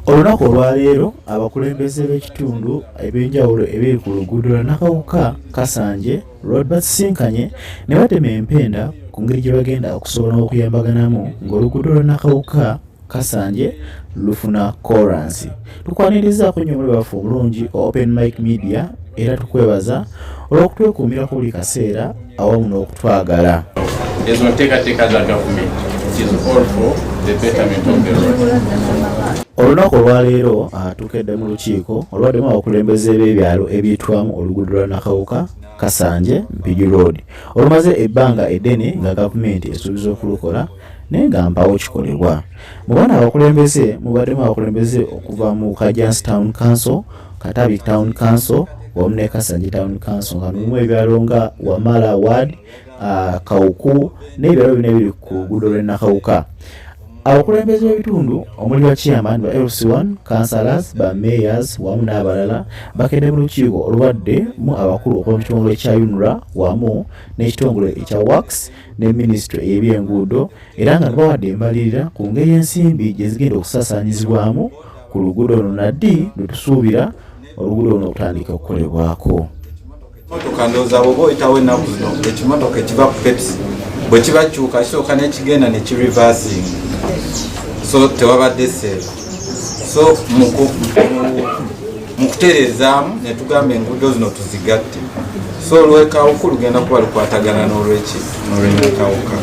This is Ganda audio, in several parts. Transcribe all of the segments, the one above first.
olunaku olwaleero abakulembeze b'ekitundu eb'enjawulo ebiri ku luguudo lwa nakawuka kasanje road basisinkanye ne batema empenda ku ngeri gye bagenda okusobola okuyambaganamu ng'oluguudo lwa nakawuka kasanje lufuna koransi tukwaniriza ku nyomuli baffe obulungi open mike media era tukwebaza olw'okutwekuumira ku buli kaseera awamu n'okutwagala ezo nteekateeka za gavumenti olunaku olwaleero ah, tukedde mu lukiiko olwaddemu abakulembeze b'ebyalo ebyitwamu oluguudo lwa nakawuka kasanje mpigi road olumaze ebbanga eddene nga gavumenti esuubiza okulukola naye nga mpawo kikolebwa mu baana abakulembeze mubaddemu abakulembeze okuva mu kajans town council katabi town council wamu ne kasanje town council nga mulimu ebyalo nga wamala ward uh, kawuku n'ebyalo bino ebiri ku luguudo lw'enakawuka abakulembeze b'ebitundu omuli bakiyamani ba lc1 councilors ba mayors wamu n'abalala bakedde mu lukiiko olubadde mu abakulu okuva mu kitongole kya unra wamu n'ekitongole ekya works ne minisitule ey'ebyenguudo era nga bawadde embalirira ku ngeri ensimbi gye zigenda okusasaanyizibwamu ku luguudo luno naddi lwe tusuubira oluguudo luno okutandika okukolebwako motoka ndowooza bwoba oyitawo ennaku zino ekimotoka ekiva ku peps bwe kibakyuka kisooka nekigenda nekirivasing so tewabadde seefu so mu kutereezaamu ne tugamba enguudo zino tuzigatte so olwekawuku lugenda kuba lukwatagana n'olweki n'olwenyekawuka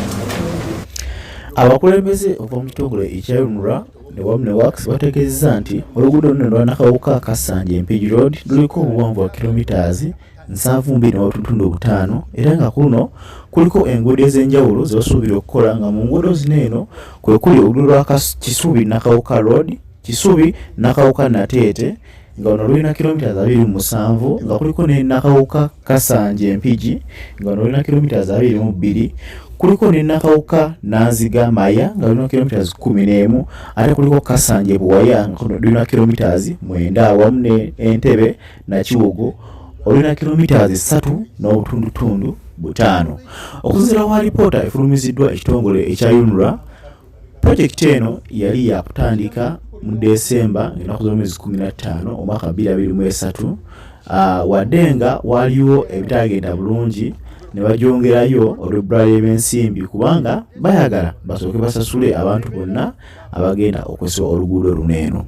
abakulembeze okwamutongole ekyayunura ne wamu ne wax bategeezeza nti oluguudo luno lwanakawuka kasanja empigi road luliko obuwanvu wa kilomitaazi nsanvu mbiri n'obutundu obutaano era nga kuno kuliko enguudo ez'enjawulo ze basuubira okukola nga mu nguudo zino eno kwe kuli oluguudo lwa kisubi nakawuka road kisubi nakawuka nateete nga ono lulina kilomita abiri mu musanvu nga kuliko ne nakawuka kasanje empigi nga ono lulina kilomita abiri mu bbiri kuliko ne nakawuka nanziga maya nga lulina kilomita kumi n'emu ate kuliko kasanje buwaya nga lulina kilomita mwenda awamu ne entebe nakiwogo olina kilomitas esatu n'obutundutundu butaano okusinzira wa lipoota efulumiziddwa ekitongole ekya unra projekiti eno yali yakutandika mu desemba ngaenaku z'omwezi 15 omwaka 223 ah, wadde nga waliwo ebitagenda bulungi ne bagyongerayo olw'ebbula ly'ebyensimbi kubanga bayagala basooke basasule abantu bonna abagenda okwesa oluguudo luno eno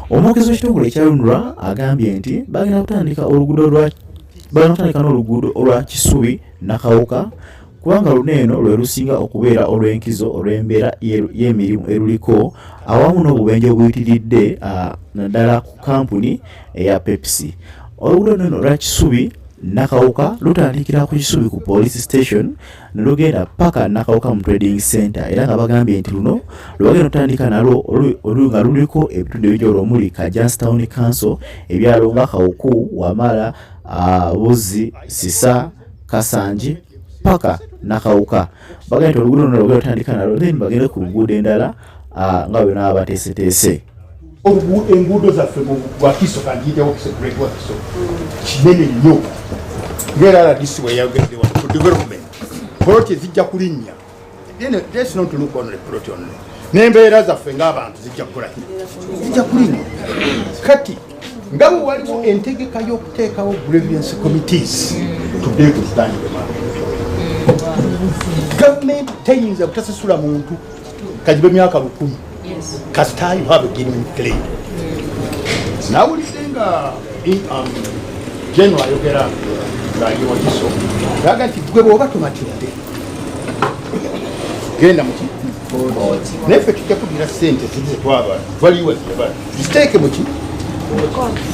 omwogezi w'ekitongole ekya lunra agambye nti bagenda kutandika oluguudo lwa bagenda kutandika n'oluguudo olwa kisubi nakawuka kubanga luno eno lwe lusinga okubeera olw'enkizo olw'embeera y'emirimu eruliko awamu n'obubenje obuyitiridde naddala ku kampuni eya pepsi oluguudo luno eno lwa kisubi nakawuka lutandikira ku kisubi ku police station nelugenda paka nakawuka mu trading center era nga bagambye nti luno lwebagenda otandika nalwo olu nga luliko ebitundu ebijolo omuli kajans town council ebyalo nga kawuku wamala buzi sisa kasanji paka nakawuka bagenda nti oluguudo luno lwebagenda otandika nalwo then bagende ku luguudo endala ah, nga bwe naba bateeseteese enguudo zaffe wakiso kantiitewo kiso great wakiso kinene nnyo ngaera rdc weyagende wa to development poloti ezijja kulinnya that's not to look on the plot only n'embeera zaffe ng'abantu zijja kukola zijja kulinnya kati nga bwe waliwo entegeka y'okuteekawo grievance committees today to stand the man government teyinza kutasasula muntu kagibe myaka lukumi kasita you have a genuine claim nawulidde nga um, geno ayogera ngaali wakiso aga nti gwe bwoba tumatidde genda muki naye ffe tujja kudira sente zizetwaba valiwa zebaa ziteeke muki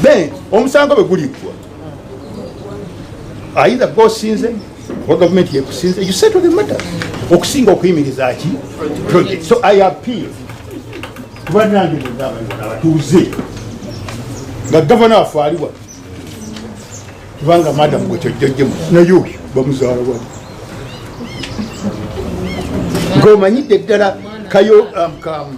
ben omusango bwe guliggwa aidha gwe osinze oba gavumenti yekusinze you settle the matter okusinga okuyimiriza ki project so i appeal kubanange mugabana abatuuze nga gavana waffe aliwa kubanga madamu gwe kyojjojjemu naye oyo bamuzaala wa ng'omanyidde ddala kayo um,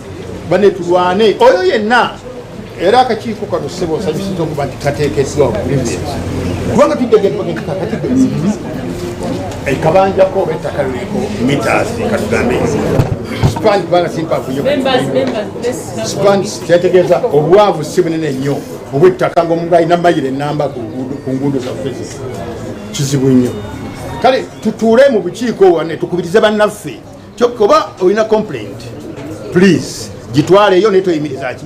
bane tulwane oyo yenna era akakiiko kano ssebo nsanyusiza okuba nti kateekeddwa okulivies kubanga tuddegekakatidde ekabanjako oba ettaka liliko mitas katugambe span kubanga simpavuyo span kyategeeza obwavu si bunene nnyo obwettaka ngaomuntu alina mayiro enamba ku nguudo zaffe kizibu nnyo kale tutuule mu bukiiko wane tukubirize bannaffe kyokka oba olina complaint please gitwaleeyo naye toyimiriza ki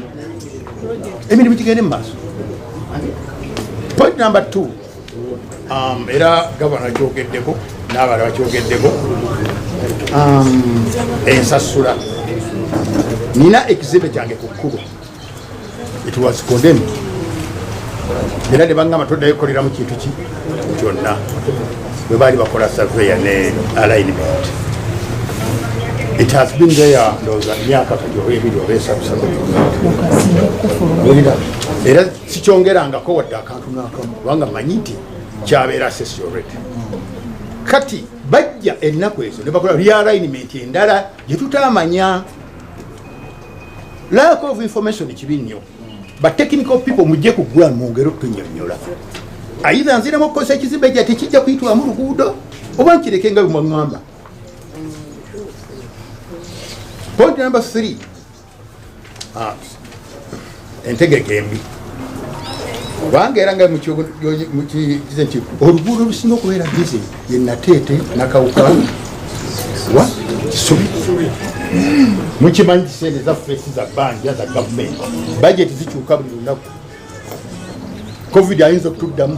emirimu gigende mu maaso point number two um, era gavana kyogeddeko n'abalala bakyogeddeko um, ensasula nina ekizibe kyange ku kkubo It was condemned. Era ne bangamba toddayo kukoleramu kintu ki kyonna bwe baali bakola surveya ne alignment. It has been there ndowooza myaka kati oba ebiri oba esatu satu. Era sikyongerangako wadde akantu n'akamu kubanga manyi nti kyabeera sesi already. Kati bajja ennaku ezo ne bakola realignment endala gye tutaamanya. Lack of information kibi nnyo. Ba technical people mujje ku gwa mwongere okunyonyola. Aidha nzira mu kosa kizimbe kya tekijja kuitwa mu luguudo oba nkireke nga bimwangamba. Point number 3. Ah. entegeka embi kubanga era nga mukize nti oluguudo olusinga okubeera bize ye nateete nakawuka wa kisubi mukimanyi kisente zaffe si za banja za gavumenti bajeti zikyuka buli lunaku covid ayinza okutuddamu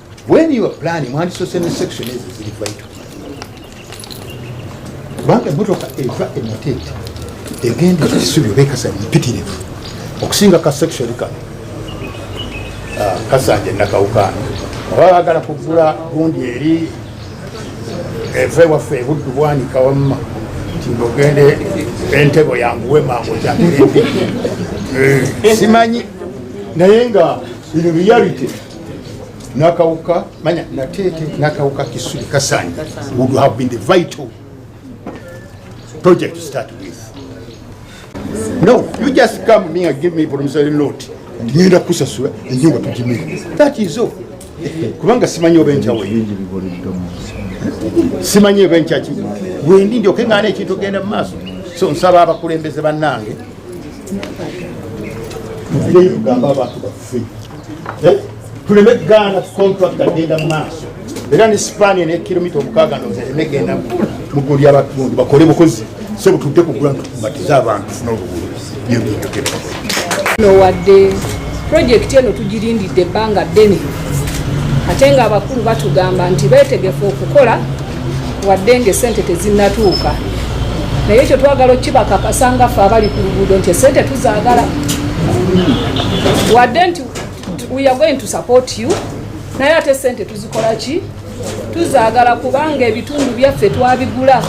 when you are planning mwandisose ne section ezo ziri vital kubanga emotoka eva ematete egenda ekisubi oba ekasanya mpitirivu okusinga ka section kano ah, kasanja nakawukaano oba bagala kugula gundi eri eve waffe ebuddu bwanika wamma ntinga ogende entebo yanguwe mangu kyagere eh, simanyi naye nga bino biyalite nakawuka manya natete nakawuka kisuli kasani would have been the vital project to start with no you just come me and give me promissory note ngenda kusasula enyumba tujimira that is all kubanga simanyi oba enjawo simanyi oba enkyaki wendi ndyoke ngana ekintu ogenda mu maaso so nsaba abakulembeze bannange Eh? tuleme gaana contract agenda mu maaso era ne sipania ne kilomita omukaaga nozereme genda mugulu lyabatundu bakole bukozi so butudde kugula ntukumatiza abantu funa oluguudo byebinjukira no wadde projekiti eno tugirindidde ebbanga ddene ate nga abakulu batugamba nti beetegefu okukola wadde ng'essente tezinnatuuka naye ekyo twagala okukibakakasa nga ffe abali ku luguudo nti essente tuzaagala wadde nti we are going to support you naye ate essente tuzikola ki tuzaagala kubanga ebitundu byaffe twabigula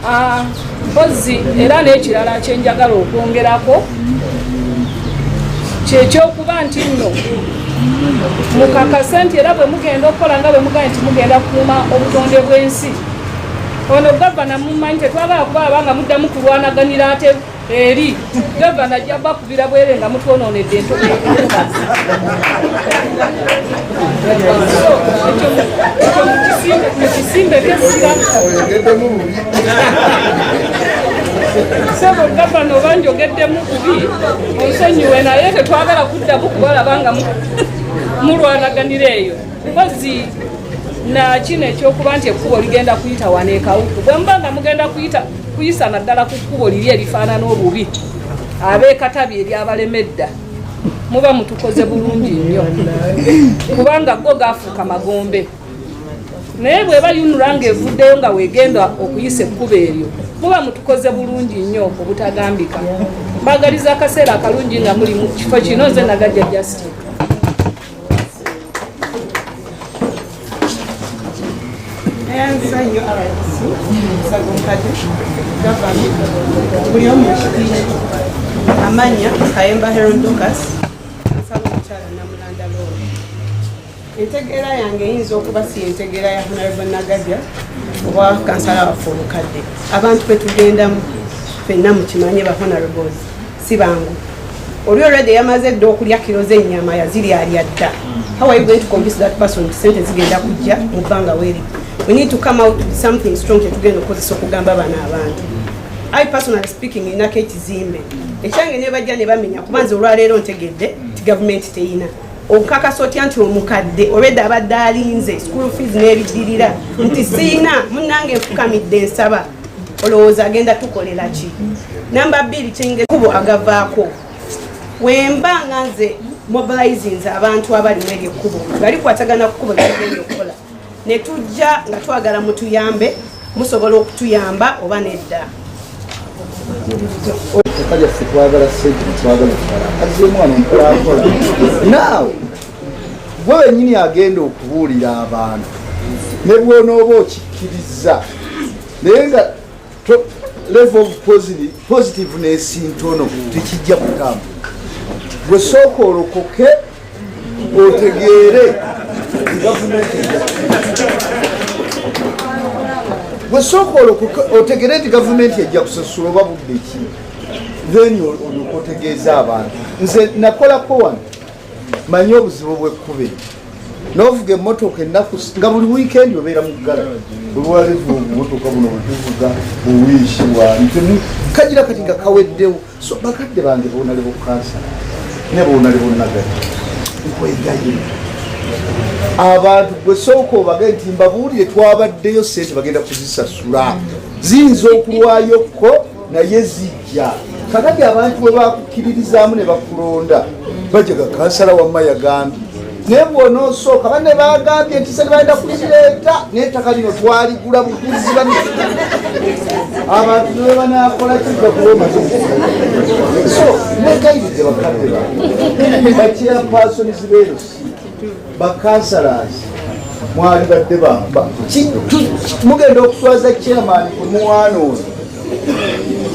Ah, mpozzi era n'ekirala kyenjagala okwongerako kyekyokuba nti nno mukakase nti era bwe mugenda okukola nga bwe mugambye nti mugenda kukuuma obutonde bw'ensi ono gavana mumanyi tetwagala kuba abanga muddamu kulwanaganira ate eri gavana ajja bakubira bwere nga mutwononedde ento sebo gavana oba njogeddemu kubi onsonyiwe naye tetwagala kuddamu kubalaba nga mulwanaganira eyo mpozi nakino ekyokuba nti ekkubo ligenda kuyita wano ekawuku bwe muba nga mugenda kuyita kuyisa naddala ku kkubo liri erifaanana obubi abeekatabi eryabalemedda muba mutukoze bulungi nnyo kubanga go gaafuuka magombe naye bweba yunula nga evuddeyo nga wegenda okuyisa ekkubo eryo muba mutukoze bulungi nnyo obutagambika mbagaliza akaseera akalungi nga muli mu kifo kino nze nagajja justin ensonyi rdc sagunkade gavani buli omu ekitiiki amanya kayemba herodokas nsaba omukyala namulanda loo entegeera yange eyinza okuba si entegeera ya honarable nagadya oba kansala waffe omukadde abantu betugendamu fenna mukimanye ba honarables si bangu oli already yamaze dda okulya kiro z'ennyama yaziryalya dda how are you going to convince that person nti sente zigenda kujja mu bbanga weeri we need to come out with something strong kyetugenda okukozesa okugamba bano abantu i personally speaking inako ekizimbe ekyange nebajja ne bamenya kuba nze olwaleero ntegedde nti gavumenti teyina okukakasa otya nti omukadde olwedde abadde alinze school fees n'ebidirira nti siina munange nfukamidde nsaba olowooza agenda tukolela ki namba bbiri kyengekubo agavaako wemba nga nze mobilizings abantu abali mu eryo ekkubo nga likwatagana kukubo lyagenda okukola ne tujja nga twagala mutuyambe musobola okutuyamba oba nedda twagala sente twagala kukala azze omwana omukulakola naawe gwe wenyini agenda okubuulira abantu ne bwonooba okikkirizza naye nga level of positiveness ntono tekijja kutambula gwe sooka olokoke otegeere gavumenti wesooka otegere nti gavumenti ejja kusasula oba budde ki then olyoka otegeeza abantu nze nakolako wano manyi obuzibu bwekkuba eri novuga emotoka ennaku nga buli wiikendi obeera muggala olwalevu obumotoka buno bwetuvuga buwiishi bwani kagira kati nga kaweddewo so bakadde bange bonale bukansa ne bonale bonagati nkwegayira abantu gwe sooka obage nti mbabuulire twabaddeyo sente bagenda kuzisasula ziyinza okulwayo ko naye zijja kakati abantu bwe bakukkiririzaamu ne bakulonda bajega kansala wamma yagambye naye bwonoosooka banne bagambye nti se nebagenda kulireeta naye ettaka lino twaligula buguzi bamifuna abantu nebe banakola kijja kuba omaze so negayirize bakadde ba bakyapaasonizi beerosi bakansalazi mwali badde bamba mugenda okuswaza chairman omwana ono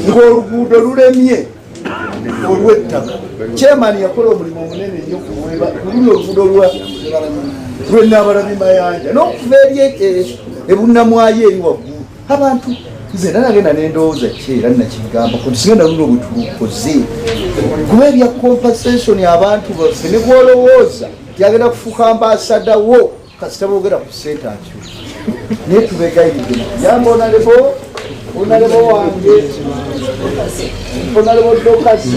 ng'oluguudo lulemye olw'ettaka chairman yakola omulimu omunene nnyo kuweba kululi oluguudo lwa lwenabalabi mayanja n'okuva eri e, e, ebunamwayo eri waggulu abantu nze era nagenda nendowooza ki era nakigambo kusigenda luno bwetulukoze kuba ebya compensation abantu baffe ne gwolowooza tyagenda kufuuka ambasada wo kasita boogera ku sente akyo naye tubegayidde yamba onalebo onalebo wange onalebo dokasi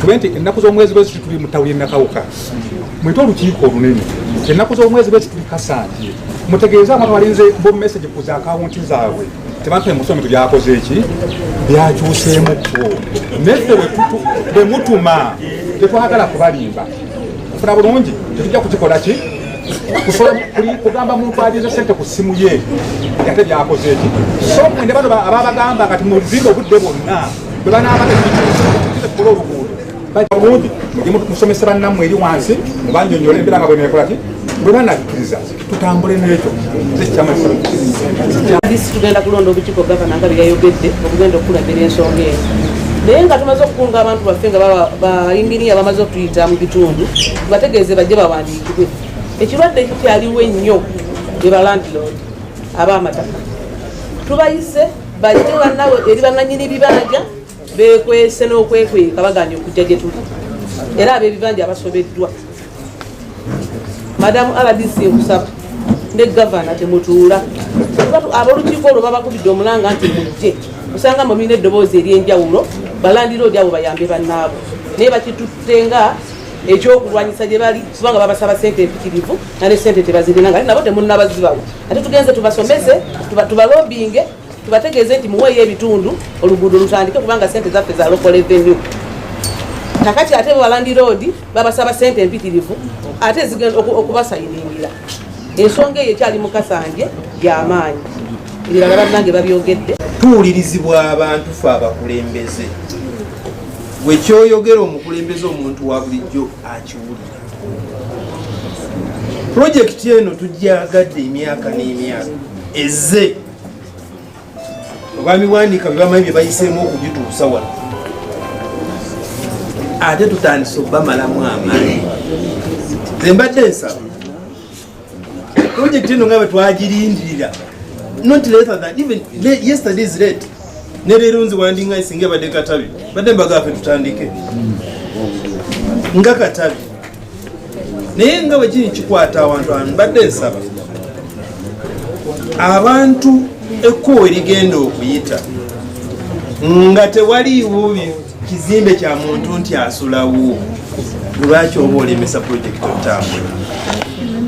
tube nti ennaku z'omwezi bweziti tuli mu ttawuli enakawuka mwite olukiiko olunene ennaku z'omwezi lwekituli kasanje mutegeeze abantu balinze bo message ku za akawunti zaabwe tebampe musomi tubyakoze eki byakyuseemuko neffe bwe mutuma tetwagala kubalimba funa bulungi tetujja kukikola ki kugamba muntu alinze sente ku ssimu ye ate byakoze eki so mwende bano ababagamba kati muzimba obudde bwonna bwe banaabaa kola oluguudo bulungi mujje musomesa bannammwe eri wansi mubanjonyole embeera nga bwenekolaki bwe banakkiriza tutambule n'ekyo zekyamasi tugenda kulonda obukiiko gavana nga byeyayogedde okugenda okukulembera ensonga eyo naye nga tumaze okukunga abantu baffe nga bayinginiya bamaze okutuyita mu bitundu tubategeeze bajje bawandiikibwe ekirwadde kikyaliwo ennyo be balandilord ab'amataka tubayise bajje bannawe eri bannanyini bibanja bekwese n'okwekweka baganye okujja gye tuli era ab'ebibanja abasobeddwa madamu rdc nkusaba ne gavana temutuula abolukiiko olwo babakubidde omulanga nti mujje osanga mu biina eddoboozi ery'enjawulo balandira odi abo bayambe bannaabo naye bakitutte nga ekyokulwanyisa gye bali kubanga babasaba sente empitirivu nga ne sente tebazirina nga naye nabo temunnabazibawo ate tugenze tubasomese tubalobinge tubategeeze nti muweeyo ebitundu oluguudo lutandike kubanga sente zaffe za local revenue nakati ate balandi road babasaba sente empitirivu ate zigenda okubasayiningira ensonga eyo ekyali mukasanje yamaanyi ebirala bannange babyogedde tuwulirizibwa abantu fe abakulembeze wekyoyogera omukulembeze omuntu wa bulijjo akiwulira pulojekiti eno tugyagadde emyaka n'emyaka eze obwami bwanika bebamanyi byebayiseemu okugituusa wano ate tutandise okubamalamu amaanyi ze mbadde ensaba projekiti eno nga bwetwagirindirira not later than even yesterday is late ne leero nzi wandinga isinga ebadde katabi badde mbagafe tutandike nga katabi naye nga bwe kiri kikwata awantu abantu mbadde nsaba abantu ekkubo erigenda okuyita nga tewaliiwo kizimbe kya muntu nti asulawo lwaki oba olemesa pulojekiti otambula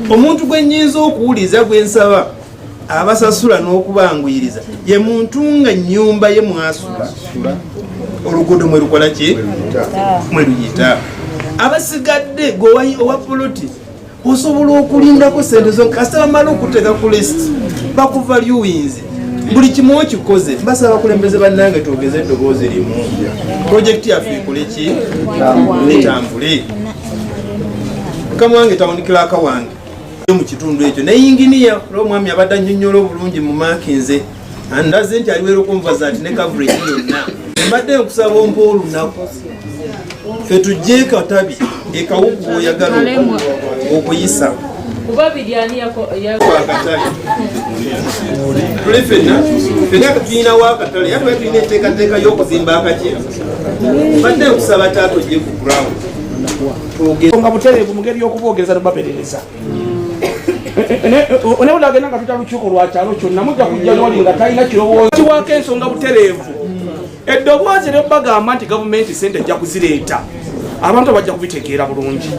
omuntu gwe nyinza okuwuliza gwe nsaba abasasula n'okubanguyiriza ye muntu nga nnyumba ye mwasula oluguudo mwe lukola ki mwe luyita abasigadde gwewayi owa poloti osobola okulindako sente zo kasita bamala okuteeka ku list bakuva lyuwinzi buli kimu okikoze basaba abakulembeze bannange twogeze eddoboozi limu projekiti yaffe ekoleki etambule kamu wange tawunikiraka wange mu kitundu ekyo ne yinginiya olwo omwami abadde annyonnyola obulungi mu maakinze andaze nti aliweera okunvaza nti ne coverage yonna mbadde nkusaba ompa olunaku fe tujje ekatabi ekawuku oyagala okuyisa tuli fenna fenna tulina wakatale yatuba tulina enteekateeka y'okuzimba akakye mbadde nkusaba taata ojje ku ground nga butereevu mu ngeri y'okuboogereza ne baberereza naye olagenda nga tuta lukiiko lwa kyalo kyonna mujja kujja noli nga talina kirowoozo kiwaako ensonga butereevu eddoboozi ne bagamba nti gavumenti sente ejja kuzireeta abantu bajja kubitegeera bulungi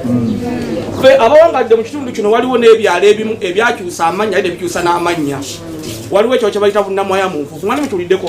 fe abawangadde mu kitundu kino waliwo n'ebyalo ebimu ebyakyusa amannya aye nebikyusa n'amannya waliwo ekyo kyebayita bunamwaya munfufu nga nemutuliddeko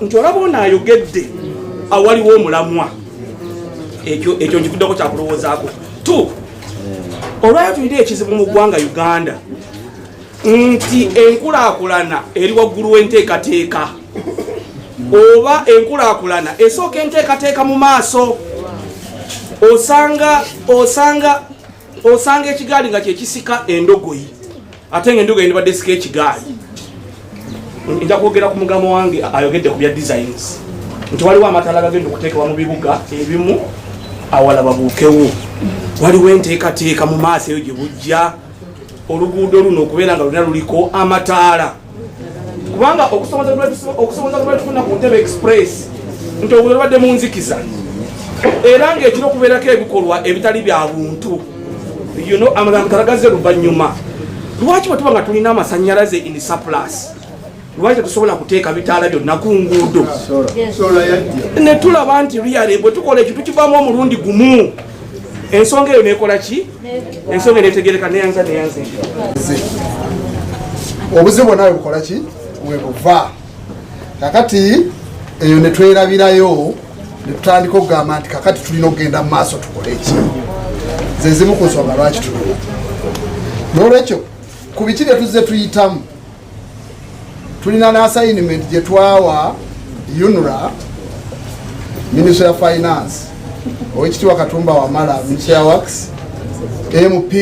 nti olaba ono ayogedde awaliwo omulamwa ekyo nkikuddeko kyakulowoozaako t olwayo tulina ekizibu mu ggwanga uganda nti enkulakulana eri waggulu w'enteekateeka oba enkulakulana esooka enteekateeka mu maaso osanga osanga osanga ekigaali nga kyekisika endogoyi ate nga enduga yendibadde esika ekigaali nja kwogera ku mugama wange ayogedde ku bya designs nti waliwo amataala gagenda okuteekebwa mu bibuga ebimu awala babuukewo waliwo enteekateeka mu maaso eyo gye bujja oluguudo luno okubeera nga lulina luliko amataala kubanga okusoboza lwetufuna ku ntebe express nti obudo lubadde mu nzikiza era ng'ekira okubeerako ebikolwa ebitali bya buntu you know amadam kalagaze luvanyuma lwaki bwetuba nga tulina amasanyalaze in surplus lwaki tetusobola kuteeka bitaala byonna ku nguudo ne tulaba nti reale bwe tukola ekintu kivaamu omulundi gumu ensonga eyo nekola ki ensonga netegereka neyanza neyanza obuzibu bwona webukola ki webuva kakati eyo ne twerabirayo ne tutandika okugamba nti kakati tulina okugenda mu maaso tukole ki ze zimu ku nsonga lwaki tulina n'olwekyo ku biki bye tuzze tuyitamu tulina n'asayinimenti gye twawa unra minisitry ya finance owekitiibwa katumba wamala minisitry ya wax mp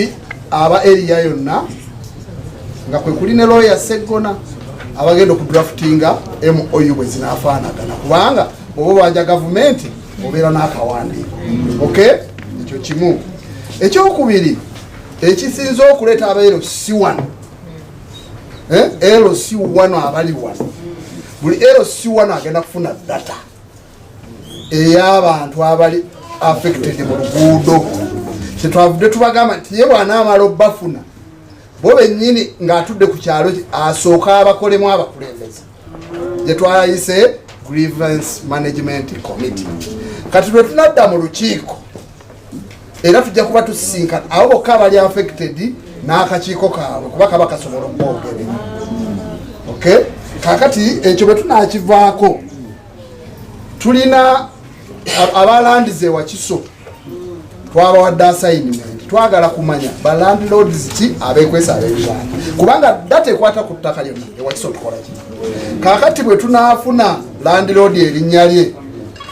aba eriya yonna nga kwe kuli ne looya Sseggona abagenda okudraftinga MOU bwe zinaafaanagana kubanga oba obanja gavumenti obeera n'akawandiiko ok ekyo kimu ekyokubiri ekisinza okuleeta aba lc one eh, lc one abali wano buli lc one agenda kufuna data ey'abantu abali affected mu luguudo kyetwavudde tubagamba nti ye bwanaamala obbafuna bo bennyini ng'atudde ku kyalo asooka abakolemu abakulembeza gye twayise grievance management committee kati lwe tunadda mu lukiiko era tujja kuba tusisinkana abo bokka abali affected n'akakiiko kaabwe kuba kaba kasobola okwogerera okay kakati ekyo bwe tunakivaako tulina abalandiza ewakiso twabawadde assignment twagala kumanya ba landlords ki abekwesa abebibanda kubanga data ekwata ku ttaka lyonna ewakiso tukola ki kakati bwe tunaafuna landlord erinnya lye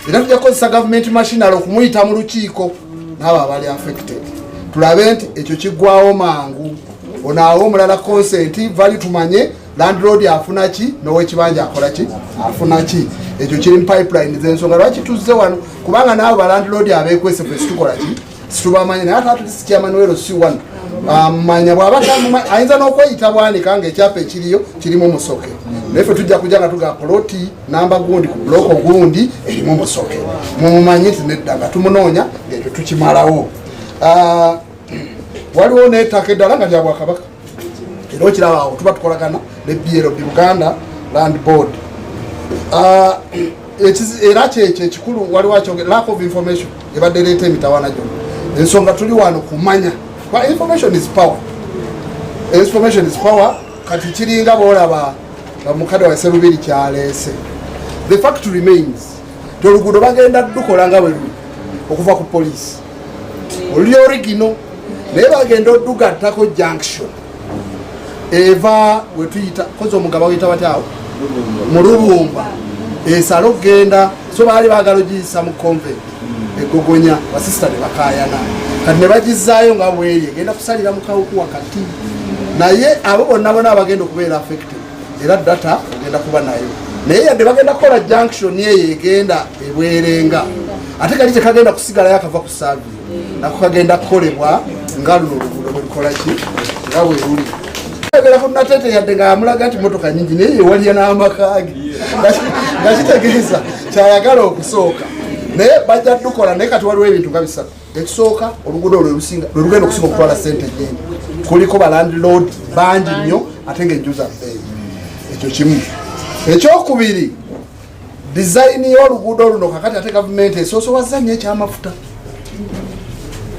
era tujja kukozesa government machinal okumuyita mu lukiiko naabo abali affected tulabe nti ekyo kiggwawo mangu onaawo omulala consent vali tumanye landlord afuna ki nowekibanja akola ki afuna ki ekyo kiri mupipeline zensonga lwaki tuzze wano kubanga naabo balandlord abekwese fe situkola ki situbamanya naye ate atulisi kyamanuwero si wano amanya um, bwaba ayinza n'okweyita bwanika nga ekyapa ekiriyo kirimu musoke naye fe tujja kujja nga tuga poloti namba gundi ku buloko gundi erimu musoke mumumanyi nti nedda nga tumunoonya ngaekyo tukimalawo uh, waliwo n'ettaka eddala nga lya bwakabaka era okiraba awo tuba tukolagana ne blb buganda land board ah, era kyekyo ekikulu waliwo akyogere lack of information ebadde leeta emitawana gyona ensonga tuli wano kumanya kuba information is power information is power kati kiringa boolaba nga mukadde wase lubiri kyaleese the fact remains ti oluguudo bagenda dukola nga bwe luli okuva ku poliisi oli origino naye bagenda odugattako junction eva wetuyita kozi omugaba weyita batyawo mulubumba esala okugenda so baali bagala ogiyisa mu convent egogonya basisita nebakayana kati nebagizaayo nga bweri egenda kusalira mukawuku wakati naye abo bonna bona abagenda okubeera affected era data ogenda kuba nayo naye yadde bagenda kukola junction eyo egenda ebwerenga ate kali tekagenda kusigalayo akava ku savi nako kagenda kukolebwa nga luno oluguudo bwelukolaki nga bweruli ebera ku natete yadde nga amulaga nti motoka nyingi naye yewalya n'amakage nga kitegeeza kyayagala okusooka naye bajja dukola naye kati waliwo ebintu nga bisatu ekisooka oluguudo olwo olusinga lwe lugenda okusinga okutwala sente nyingi kuliko balandlord bangi nnyo ate nga enju zaffe ekyo kimu ekyokubiri dizayini y'oluguudo luno kakati ate gavumenti esoosowaza nnyo ekyamafuta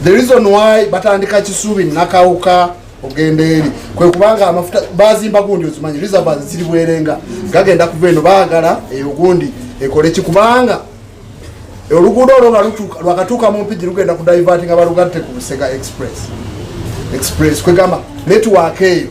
the reason why batandika kisubi nakawuka ogenda eri kwe kubanga amafuta bazimba gundi ozimanyi reserve ziri bwerenga gagenda kuva eno baagala eyo gundi ekole ki kubanga oluguudo olwo nga lwakatuuka mu mpigi lugenda ku divert nga balugatte ku busega express express kwegamba network eyo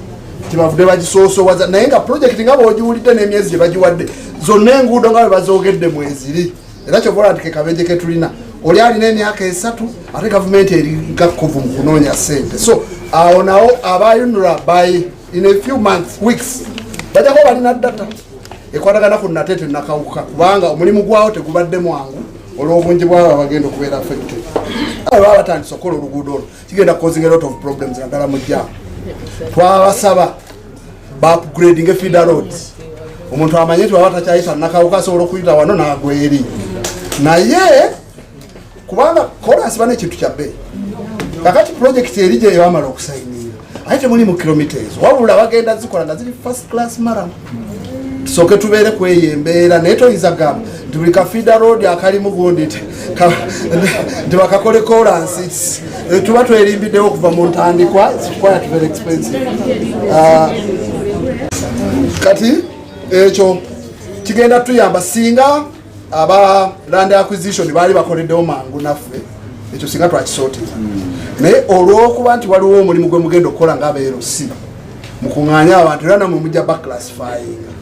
tebavudde bagisoosowaza naye nga projekiti nga bwogiwulidde n'emyezi gye bagiwadde zonna enguudo nga bwe bazoogedde mweziri era kyova ola nti kekabeje ketulina oli alina emyaka esatu ate gavumenti eri gakkovu mu kunoonya sente so awo nawo abayunura baye in a few months weeks bajako balina data ekwatagana ku nate tenakawuka kubanga omulimu gwawo tegubadde mwangu olwobungi bwabo abagenda okubeera affected baba batandise okukola oluguudo olwo kigenda causing a lot of problems naddala mu jam twabasaba baupgrading efeeder roads omuntu amanye nti baba takyayita nakawuka asobola okuyita wano nagweri naye kubanga kolansi bana ekintu kya bbeeyi kakati pulojekiti eri gyeyo amala okusayinira aye temuli mu kilomita ezo wabula bagenda zikola nga ziri first class maramu tusooke tubeere ku eyo embeera naye toyinza gamba nti buli kafida road akalimu gundi nti bakakole kolansi eh, tuba twerimbiddewo okuva mu ntandikwa quite very expensive ah, kati ekyo kigenda tuyamba singa aba land acquisition baali bakoleddewo mangu naffe ekyo singa twakisootera naye olwokuba nti waliwo omulimu gwe mugenda okukola nga abeerosi mukuŋŋaanye abantu era namwe mujja baklassifyinga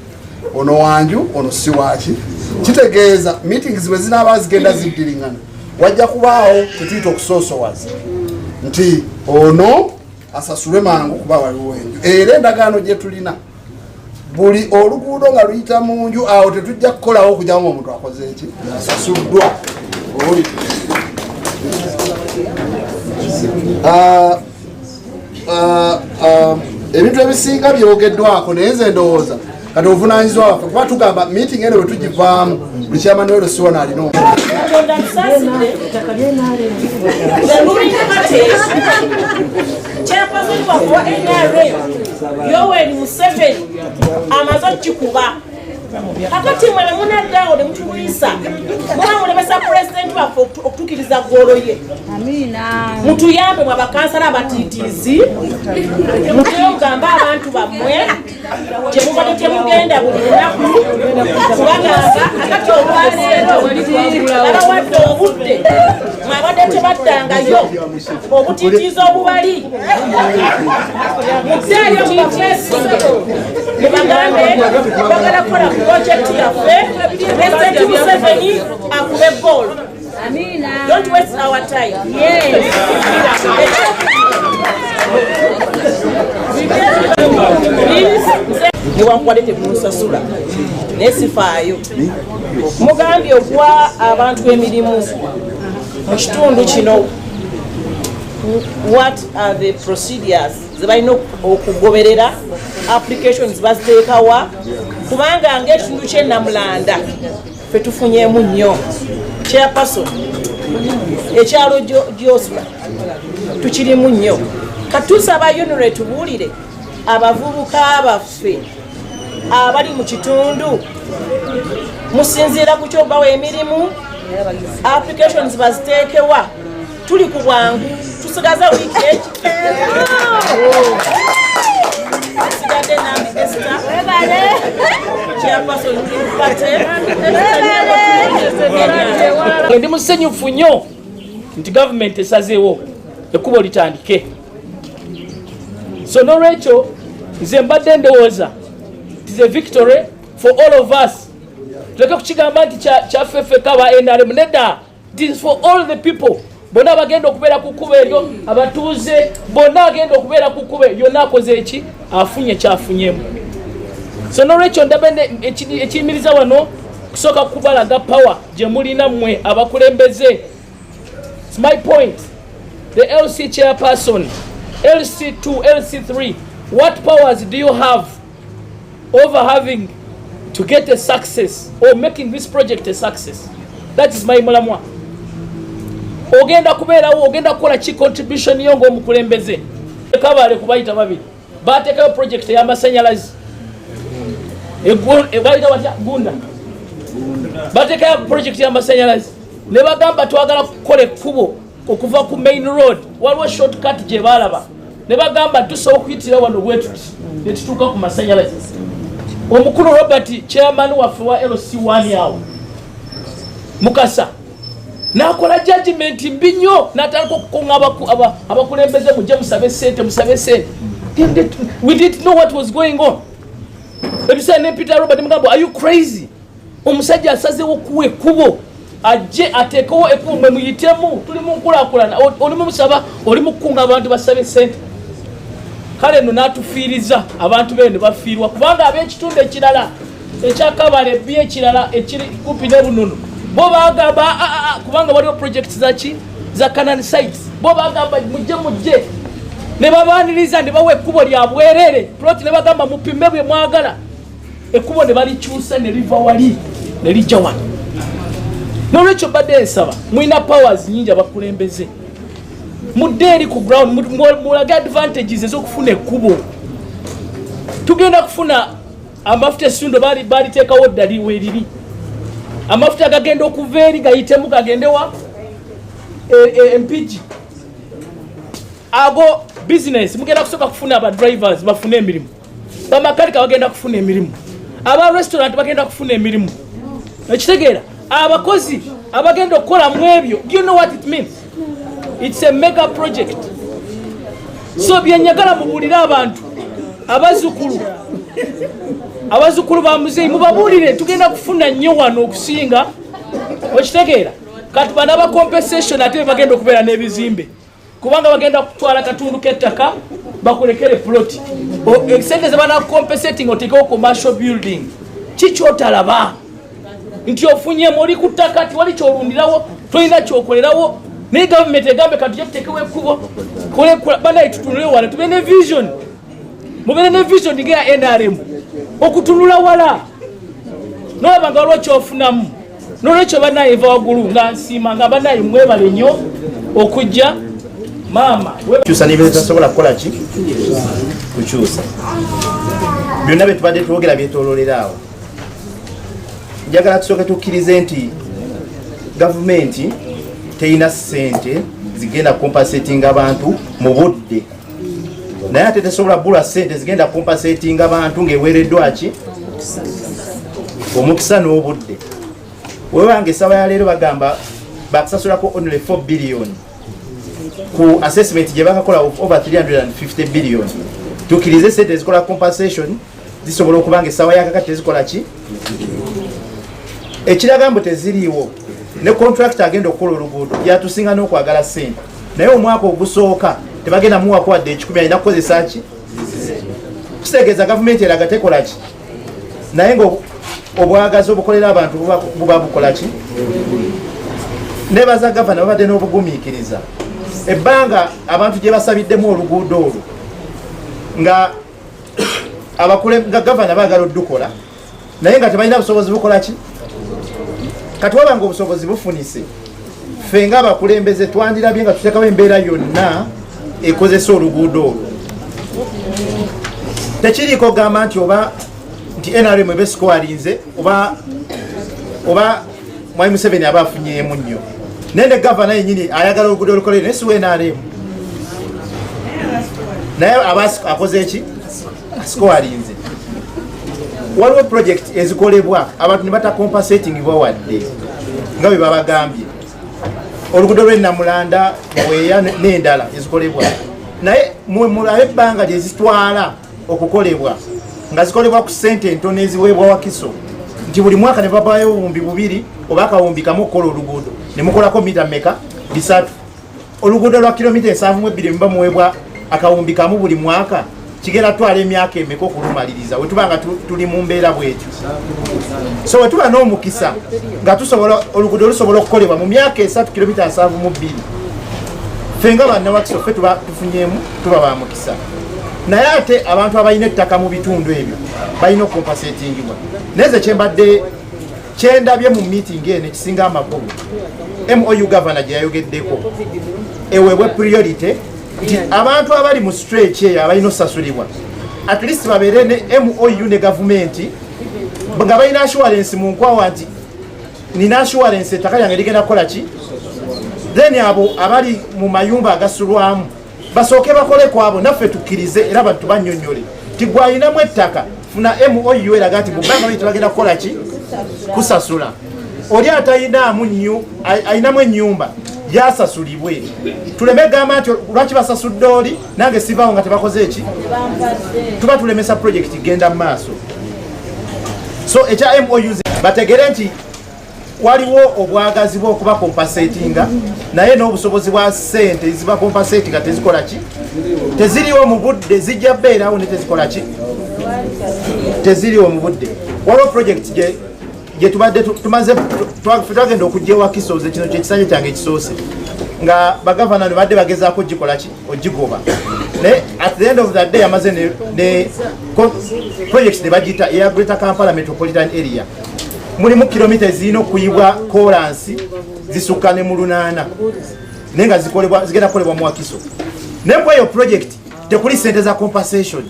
ono wanju ono si waki kitegeeza meetings bwe zinaaba zigenda ziddiringana wajja kubaawo kyetuyita okusoosowaza nti ono asasulwe mangu kuba waliwo enju era endagaano gye tulina buli oluguudo nga luyita mu nju awo tetujja kukolawo okuja nga omuntu akoze eki asasuddwa oli ah, ah, ah, ebintu ebisinga byogeddwako naye nze ndowooza kati obuvunanyizibwa waffe kuba tugamba meeting ene bwetugivaamu buli kyamani wero siwona alina Chairperson waffe wa NRM Yoweri Museveni amaze okukikuba kakati mwe ne munaddaawo ne mutulwisa muba mulemesa pulezidenti waffe okutukiriza ggoolo ye mutuyambe mwe abakansala abatiitiizi mutuyogamba abantu bammwe kyemubadde temugenda buli lunaku kubagamba akati olwaleero babawadde obudde mwabadde tebaddangayo obutitiiza obubali muzeeyo mubafeesinge mubagambe bagala kukola ku projekiti yaffe presidenti museveni akube goolo Amina. Don't waste our time. Yes. newankubadde temunsasula naye sifaayo mugambye okuwa abantu emirimu mu kitundu kino what are the procedures zebalina okugoberera applications baziteekawa kubanga ngaekitundu kyenamulanda Ffe tufunyeemu nnyo chairperson ekyalo gyosula tukirimu nnyo katusaba yunire tubuulire abavubuka baffe abali mu kitundu musinziira ku kyobawa emirimu applications baziteekewa tuli ku bwangu tusigaza wiiki ekikesigadde nami esita ndi musanyufu nnyo nti gavumenti esazeewo ekkubo litandike so nolwekyo nze mbadde ndowooza tis a victory for all of us tuleke kukigamba nti kyaffe ffeka ba nrm nedda This for all the people bonna abagenda okubeera ku kkuba eryo abatuuze bonna agenda okubeera ku kkuba eryo naakoze eki afunye kyafunyemu so nolwekyo ndaba ekiyimiriza wano kusooka kubalaga power gye mulina mmwe abakulembeze my point the lc chairperson lc2 lc3 what powers do you have over having to get a success or making this project a success that is my mulamwa ogenda kubeerawo ogenda kukola ki contribution yo ngaomukulembeze kabale kubayita babiri batekayo project eyamasanyalazi bayita batya gunda batekayo project yamasanyalazi ne bagamba twagala kukola ekkubo okuva ku main road waliwo short cut gye baalaba ne bagamba tusooka okuyitira wano bwetuti ne tutuuka ku masanyalaze omukulu robert chairman waffe wa lc wani awo mukasa nakola jajimenti mbi nnyo natandika okukunga abakulembeze mujje musabe sente musabe sente we didn't know what was going on ebiseera ne peter robert mugamba are you crazy omusajja asazewo okuwa ekkubo ajje ateekewo ekkubo mwe muyitemu tuli mu nkulakulana oli mumusaba oli mukukunga abantu basabe sente kale no natufiiriza abantu bee ne bafiirwa kubanga ab'ekitundu ekirala ekyakabala ebbi ekirala ekiri kupi ne bununu bo bagamba ah, ah, ah, kubanga waliwo project zaki za canaan sites bo bagamba mujje mujje ne babaaniriza ne bawa ekkubo lya bwerere ploti ne bagamba mupime bwe mwagala ekkubo ne balikyusa ne liva wali ne lijja wano nolwekyo badde nsaba mulina powers nyingi abakulembeze mudde eri ku ground mulage advantages ezokufuna ekkubo tugenda kufuna amafuta esundo baliteekawo ddali weriri amafuta gagenda okuva eri gayitemu gagendewa e, e, empigi ago business mugenda kusooka kufuna abadrivers bafune emirimu bamakanika bagenda kufuna emirimu aba restaurant bagenda kufuna emirimu ekitegeera abakozi abagenda okukola mu ebyo you know what it means it's a mega project so byenyagala mubuulire abantu abazukulu abazukulu ba muzeeyi mubabuulire tugenda kufuna nnyo wano okusinga okitegeera kati bana ba compensation ate bagenda okubeera n'ebizimbe kubanga bagenda kutwala katundu kettaka bakulekere plot sente zebanakucompensating otekewo commercial building kikyotalaba nti ofunyemu oli ku ttaka ti wali kyolundirawo tolina kyokolerawo naye gavumenti egambe katuja tutekewo ekkubo banaye tutunule wala tube ne vision mubere ne vision ngeya nrm okutunula wala nolaba nga waliwo kyofunamu nolwekyo banaye va wagulu nga nsiima nga banaye mwebale nnyo okujja maama kyusa nebitasobola kukola ki kukyusa byonna byetubadde twogera byetololera awo njagala tusooke tukkirize nti gavumenti teyina sente zigenda kukompasetinga abantu mu budde naye ate tesobola kugula sente zigenda kumpa setinga bantu ngaeweereddwaki omukisa n'obudde webanga esaba ya leero bagamba bakusasulako only 4 billion ku assessment gye bakakola over 350 billion tukirize sente ezikola compensation zisobola okuba nga essaawa yakakati tezikola ki ekiraga mbu teziriiwo ne kontrakita agenda okukola oluguudo yatusinga n'okwagala sente naye omwaka ogusooka tebagenda muwako wadde ekikumi alina kukozesa ki kitegeeza gavumenti eraga tekola ki naye nga obwagazi obukolera abantu buba bukola ki nebaza gavana babadde n'obugumiikiriza ebbanga abantu gye basabiddemu oluguudo olwo nga abakule nga gavana bagala odukola naye nga tebalina busobozi bukola ki kati waba nga obusobozi bufunise ffe nga abakulembeze twandirabye nga tutekawo embeera yonna ekozesa oluguudo olwo tekiriiko gamba nti oba nti nrm ebesikoalinze oba oba Mwai Museveni aba afunyeemu nnyo naye ne gavana yenyini ayagala oluguudo olukolere naye siwa nrm naye aba akoze eki asikowalinze waliwo project ezikolebwa abantu ne batakompasetingibwa wadde nga bwe babagambye oluguudo lw'enamulanda weya n'endala ezikolebwa naye mulabe ebbanga lyezitwala okukolebwa nga zikolebwa ku ssente entono eziweebwa wakiso nti buli mwaka ne babayo obuwumbi bubiri oba akawumbi kamu okukola oluguudo ne mukolako mita meka bisatu oluguudo lwa kilomita ensanvu mu ebbiri muba muweebwa akawumbi kamu buli mwaka kigera twala emyaka emeka okulumaliriza wetuba nga tuli mu mbeera bwetyo so wetuba n'omukisa nga tusobola oluguudo lusobola okukolebwa mu myaka esatu kilomita nsanvu mu bbiri ffe nga bannawakisoffe tuba tufunyemu tuba bamukisa naye ate abantu abalina ettaka mu bitundu ebyo balina okukompasetingibwa naye ze kyembadde kyendabye mu meeting eno ekisinga amakulu mou gavana gye yayogeddeko eweebwe priority nti abantu abali mu streki eyo abalina osasulibwa at least babeere ne mou ne gavumenti nga balina assurance mu nkwawa nti nina assurance ettaka lyange ligenda kukola ki then abo abali mu mayumba agasulwamu basooke bakole kwabo naffe tukkirize era bantu bannyonnyole nti gwalinamu ettaka funa mou eraga nti mubanga lyo tebagenda kukola ki kusasula oli atalinaamu nyu alinamu ennyumba yasasulibwe tuleme gamba nti lwaki basasudde oli nange sivaawo nga tebakoze eki tuba tulemesa projekiti genda mu maaso so ekya mou bategere nti waliwo obwagazi bwokubakompasetinga naye n'obusobozi bwa sente ezibakompasetinga tezikola ki teziriwo mu budde zijja beerawo ne tezikola ki teziriwo mu budde waliwo project gye gyetubadde tumaze twagenda okujja ewa kisoze kino kyekisanja kyange ekisoose nga bagavana nebadde bagezaako ogikolaki ogigoba naye at the end of the day amaze ne project nebagiyita eya greater kampala metropolitan area mulimu kilomita ezirina okuyibwa kolansi zisukka ne mu lunaana naye nga zigenda kukolebwa mu wakiso naye ku eyo project tekuli sente za compensation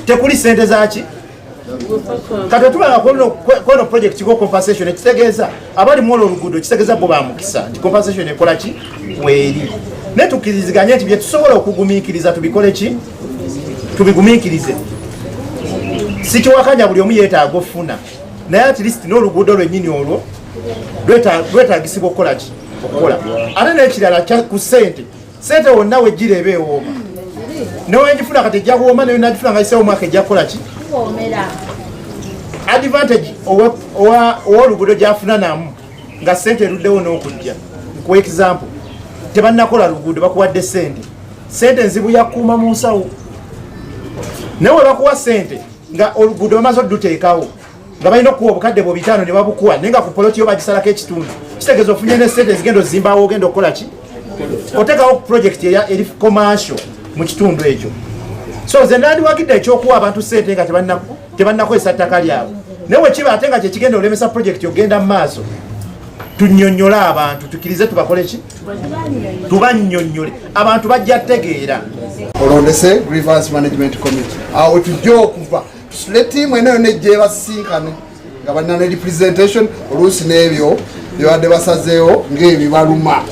tekuli sente zaki kati otulaba kweno project ko compensation ekitegeeza abali mwolo oluguudo kitegeeza bo bamukisa nti compensation ekolaki weeri naye tukiriziganye nti byetusobola okugumikiriza tubikole ki tubigumiikirize sikiwakanya buli omu yeetaaga ofuna naye at least n'oluguudo lwennyini olwo lwetaagisibwa okukola ki okukola ate n'ekirala ku ssente ssente wonna wejjira eba ewooma newengifuna kati ejja kuwooma nayo nagifuna nga isewo omwaka ejja kukola ki advantage ow'oluguudo gyafuna namu nga ssente eruddewo n'okujja ku example tebannakola luguudo bakuwadde ssente sente nzibu yakuuma mu nsawo naye webakuwa sente nga oluguudo bamaze oduteekawo nga balina okuwa obukadde bwo bitaano ne babukuwa naye nga ku poloti yo bagisalako ekitundu kitegeeza ofunye ne sente ezigenda ozimbawo ogenda okukola ki otekawo project eri commercial mu kitundu ekyo so ze nandiwagidde ekyokuwa abantu sente nga tebannakozesa ttaka lyabwe naye wekiba ate nga kyekigenda olemesa project ogenda mu maaso tunyonnyole abantu tukirize tubakole ki tubannyonnyole abantu bajja tegeera olondese grievance management committee awo tujja okuva tusule tiimu eno yona ejja ebasisinkane nga balina ne representation oluusi n'ebyo byebadde basazeewo ng'ebibaluma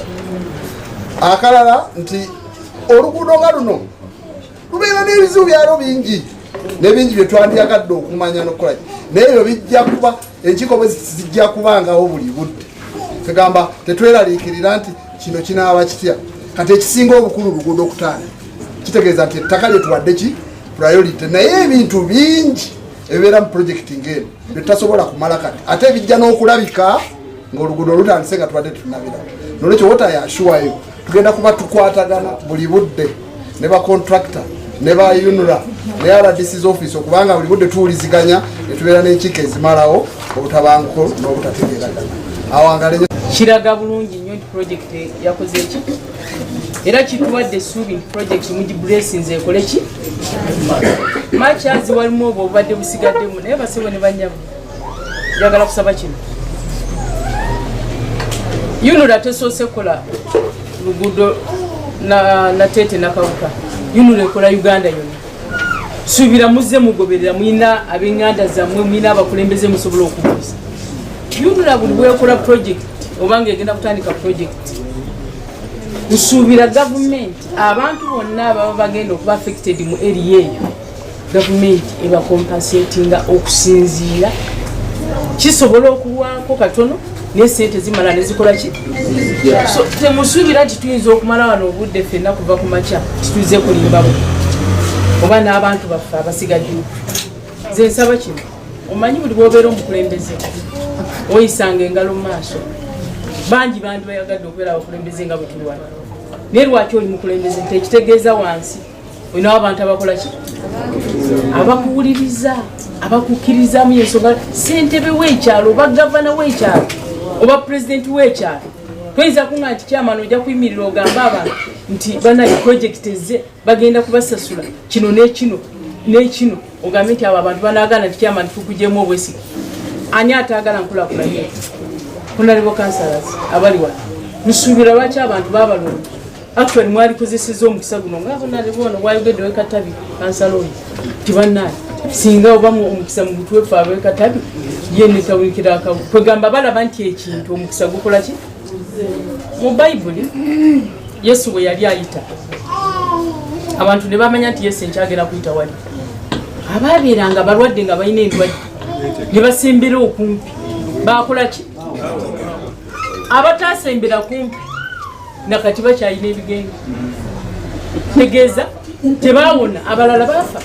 akalala nti oluguudo nga luno lubeera n'ebizibu byalo bingi nebingi byetwandiyagadde okumanya nokukola naye ebyo bijja kuba enkiiko bwe zijja kubangawo buli budde kegamba tetweraliikirira nti kino kinaaba kitya kati ekisinga obukulu luguudo okutaana kitegeeza nti ettaka lyetuwadde ki priority naye ebintu bingi ebibeera mu projekiti ngaeno byetutasobola kumala kati ate ebijja n'okulabika ngaoluguudo olutandise nga tubadde tutunabira nolwekyo wotayashuwayo tugenda kuba tukwatagana buli budde ne bacontractor ne ba unra ne rdcs office okubanga buli budde tuwuliziganya netubeera n'enkiiko ezimalawo obutabanguko n'obutategeeragana awangale kiraga bulungi nnyo nti project yakoze ki era kituwadde essuubi nti project mugibulesinze ekole ki macazi walimu obwo obubadde busigaddemu naye basebo ne banyamu njagala kusaba kino yunula tesoose kukola luguudo nateete nakawuka yunula ekola uganda yonna suubira muzze mugoberera mulina abenganda zammwe mulina abakulembeze musobola okubuuza yunula buli bwekola project obanga egenda kutandika project nsuubira gavumenti abantu bonna ababa bagenda okuba affected mu eri eyo gavumenti ebakompasetinga okusinziira kisobola okulwako katono nesente zimala nezikola ki so temusuubira nti tuyinza okumala wano obudde fenna kuva ku makya tituize kulimbawo oba n'abantu baffe abasigaddewo nze nsaba kino omanyi buli bwobeera omukulembeze oyisanga engalo mu maaso bangi bandi bayagadde okubeera abakulembeze nga butulwana naye lwaki oli mukulembeze tekitegeeza wansi olina abantu abakola ki abakuwuliriza abakukkirizamu yensonga sentebe wekyalo oba gavana wekyalo oba pulezidenti wekyalo toyinza kunga nti kyamana ojja kuyimirira ogamba abantu nti banaye projekiti ezze bagenda kubasasula kino nekino nekino ogambe nti abo abantu banagana nti kyamana tukujemu obwesige ani atagala nkulakulanye kunalibo kansalas abali wano nsuubira lwaki abantu babalonda Actually mwali kuzisiza omukisa guno nga bona ne bona wayogedde we katabi kansaloni tibannaye singa oba omukisa mu butwefu abe katabi ye netawulikira akabu kwegamba balaba nti ekintu omukisa gukola ki mu bayibuli yesu bwe yali ayita abantu ne bamanya nti yesu enkyagera kuyita wali abaabeeranga balwadde nga balina endwadde ne basembera okumpi bakola ki abataasembera kumpi nakati bakyalina ebigenge tegeeza tebaawona abalala baafa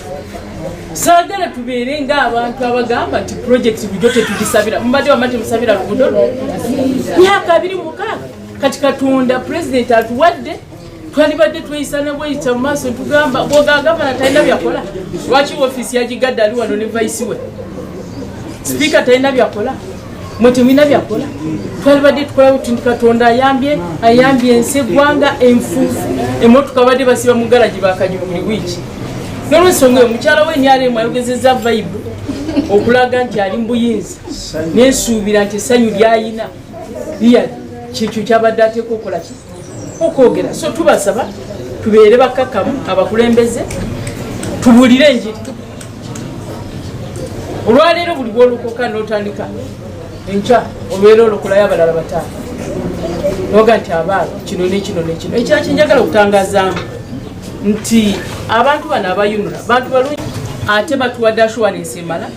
saagala tubeere ngaabantu abagamba nti project bujo tetugisabira mubadde wama temusabira lugudo myaka abiri mukaaga kati katonda pulezidenti atuwadde twalibadde tweyisana bweyita mu maaso tugamba bwogagavana talina byakola lwaki ofiisi yagigadde ali wano ne vaisi we sipiika talina byakola mwe temulina byakola twalibadde tukola buti nti katonda ayambye ayambye ensi eggwanga enfuufu emotoka babadde basiba mu garagi bakanyuma buli wiiki nolwensonga eyo mukyala we nyalemu ayogezeza vaibu okulaga nti ali mubuyinza nensuubira nti essanyu lyayina liyali kyekyo kyabadde ateeka okola ki okwogera so tubasaba tubeere bakkakkamu abakulembeze tubuulire enjiri olwaleero buli bwolokoka notandika enkya olwera olokolayo abalala bataano noga nti abaana kino nekino nekino ekira kyenjagala okutangazaamu nti abantu bano abayunula bantu balungi ate batuwadde ashuwalensi emala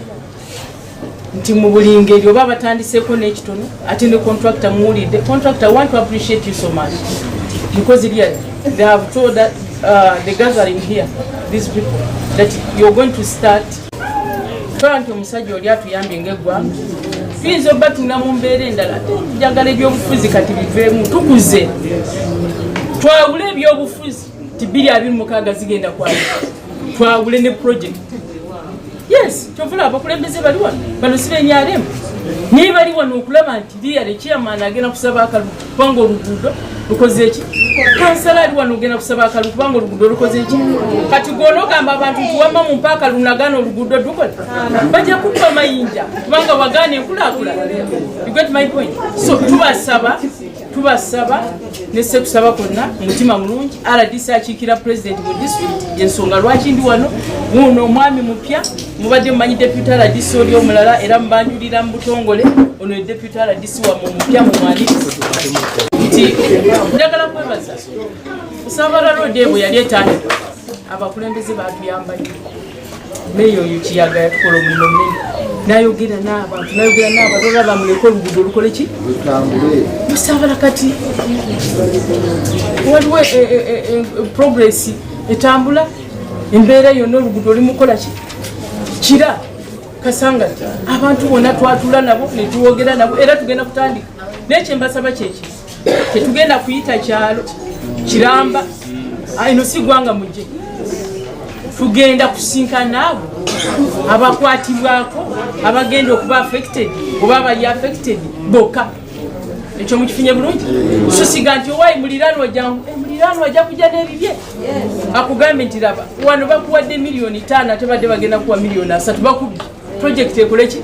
nti mu buli ngeri oba batandiseeko n'ekitono ate ne contractor muwulidde contractor want to appreciate you so much because really they have told that, uh, the gathering here these people that you're going to start tola nti omusajja oli atuyambye ngaeggwanga tuyinza oba tuna mu mbeera endala njagala ebyobufuzi kati biveemu tukuze twawule ebyobufuzi nti bbiri abiri mukaaga zigenda kwali twawule ne project yes kyovula abakulembeze bali wano bano sibenyaremu naye bali wano okulaba nti liya lekyamaana agenda kusaba akalu kubanga oluguudo lukoze eki kansala ali wano ogenda kusaba akalu kubanga oluguudo lukoze eki kati gwona ogamba abantu nti wamma mu mpaaka lunagaana oluguudo dukola bajja kukwa mayinja kubanga wagaana enkulaakula so tubasaba tubasaba ne sekusaba konna mutima mulungi rdc akiikira president mu district yensonga lwaki ndi wano wuuno omwami mupya mubadde mumanyi deputy rdc oli omulala era mubanjulira mu butongole ono ye deputy rdc wamwe omupya mumwanirizi nti njagala kwebaza kusambala road ebwe yali etandika abakulembeze batuyambanye meeya oyo kiyaga yatukola omulimu munene nayogera n'abantu nayogera n'abantu olaba bamuleka oluguudo olukole ki musaabala kati waliwo e, e, e, progress etambula embeera yonna oluguudo olimukola ki kira kasanga abantu bona twatula nabo netwogera nabo era tugenda kutandika naye kyembasaba kyekii tetugenda kuyita kyalo kiramba ino si gwanga muje tugenda kusinkana abo abakwatibwako abagenda okuba affected oba abali affected boka ekyo mukifunye bulungi susiga nti owayi muliranwa jangu eh, muliranwa ajja kujja n'ebibye akugambye nti laba wano bakuwadde miliyoni taano ate badde bagenda kuwa miliyoni asatu bakubye project ekole ki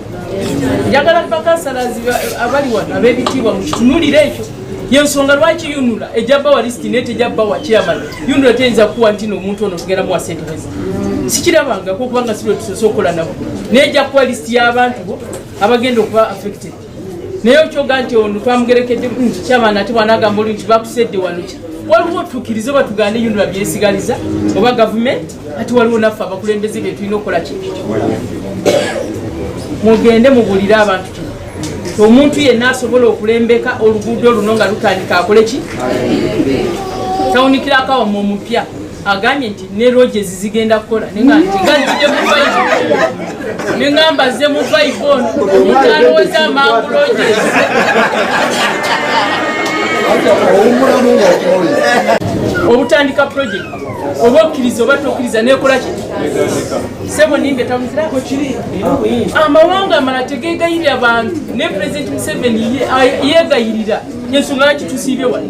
njagala bakansalazi abali wano ab'ebitiibwa mukitunulire ekyo yensonga lwaki yunula ejja bawa lisiti naye tejja bawa chairman yunula teyinza kuwa nti noomuntu ono tugenda muwa sente heza sikirabangako kubanga sirwe tusose okukola nabo naye ejja kuwa lisiti y'abantu bo abagenda okuba affected naye okyoga nti ono twamugerekedde nti kyabaana ate bwanagamba oli nti bakusedde wano ki waliwo tukirize oba tugande yunula byesigaliza oba gavumenti ati waliwo naffe abakulembeze bye tulina okukola ki mugende mubulire abantu kino omuntu yenna asobola okulembeka oluguudo luno nga lutandika akole ki tawunikirako awamu omupya agambye nti ne roges zigenda kukola nengamba ze mu vibe ono omuntu alowooza amangu roges obutandika project oba okkiriza oba tokkiriza nekola ki sebo nimbe tamuzirako kiri amawanga amala tegegayirira bantu ne president museveni yegayirira yensonga lwaki tusiibye wali